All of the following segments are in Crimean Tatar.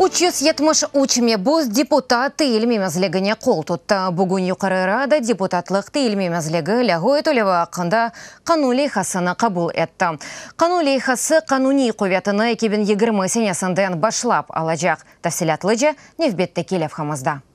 Üç yüz yetmiş üç mebüs deputat teyil memezligine qol tuttı. Bugün Yuqarı Rada deputatlıq teyil memezligi lâğu etülevi aqqında qanun leyhasını qabul etti. Qanun leyhası qanuniy quvetini eki biñ yigirmi senesinden başlap alacaq, tafsilâtlıca nevbetteki levhamızda.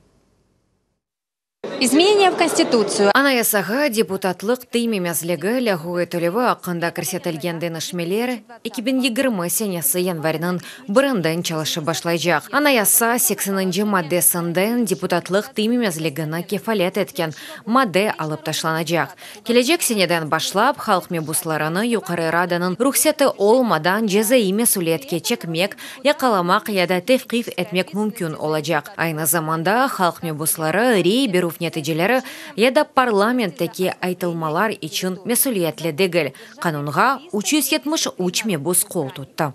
İzmeneniya v Konstitutsiyu. Anayasağa deputatlıq teymemezligi lâğu etilüvi aqqında kirsetilgen deñişmeler eki biñ yigirmi senesi yanvarniñ birinden çalışıp başlaycaq. Anayasa sekseninci maddesinden deputatlıq teymemezligini kefalât etken madde alıp taşlanacaq. Kelecek seneden başlap, halq mebuslarını Yuqarı Radanıñ ruhseti olmadan cezaiy mesüliyetke çekmek, yaqalamaq ya da tevqif etmek mümkün olacaq. Aynı zamanda, halq mebusları rey berüv neticeleri ya da parlamentteki aytılmalar içün mesüliyetli degil. Qanunğa üç yüz yetmiş üç mebus qol tuttı.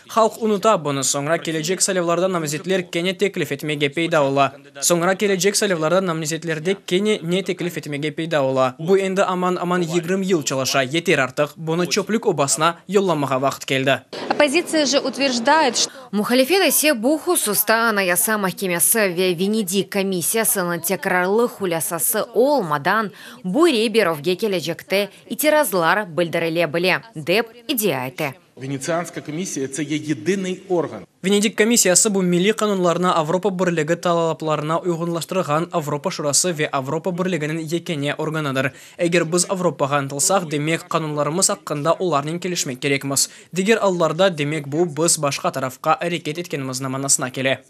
Halq unuta bunı, soñra kelecek saylavlarda namzetler kene teklif etmege peyda ola. Soñra kelecek saylavlarda namzetlerde kene ne teklif etmege peyda ola? Bu endi aman-aman yigrim yıl çalışa, yeter artıq, bunı çöplük obasına yollamağa vaqıt keldi. Oppozitsiya je utverjdaet, şto. Muhalifet ise bu hususta Anayasa mahkemesi ve Venedik komissiyasınıñ tekrarlı hulâsası olmadan bu rey berovge kelecekte itirazlar bildirile bile, dep iddia ete. Venetsianskaya komissiya, tse ye yedınıy organ. Venedik komissiyası bu milliy qanunlarnı Avropa Birligi talaplarına uyğunlaştırğan Avropa Şurası ve Avropa Birliginiñ yekâne organıdır. Eger biz Avropağa ıntılsaq, demek, qanunlarımız aqqında olarnen kelişmek kerekmiz. Diger allarda, demek, bu, biz başqa tarafqa areket etkenimizni manasına kele.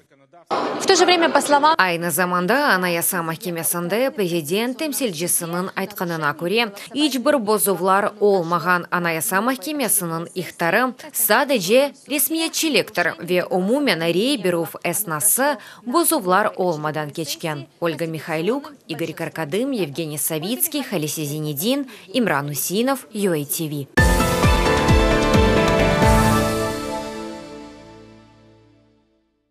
Aynı zamanda Anayasa mahkemesinde prezident temsilcisiniñ aytqanına köre, iç bir bozuvlar olmağan Anayasa mahkemesiniñ ihtarı sadece resmiyetçiliktir ve umumen rey berüv esnası bozuvlar olmadan keçken, Olga Mihaylük, İgor Karkadım, Yevgeniy Savitskiy, Halise Zenedin, İmran Üseinov, UATV.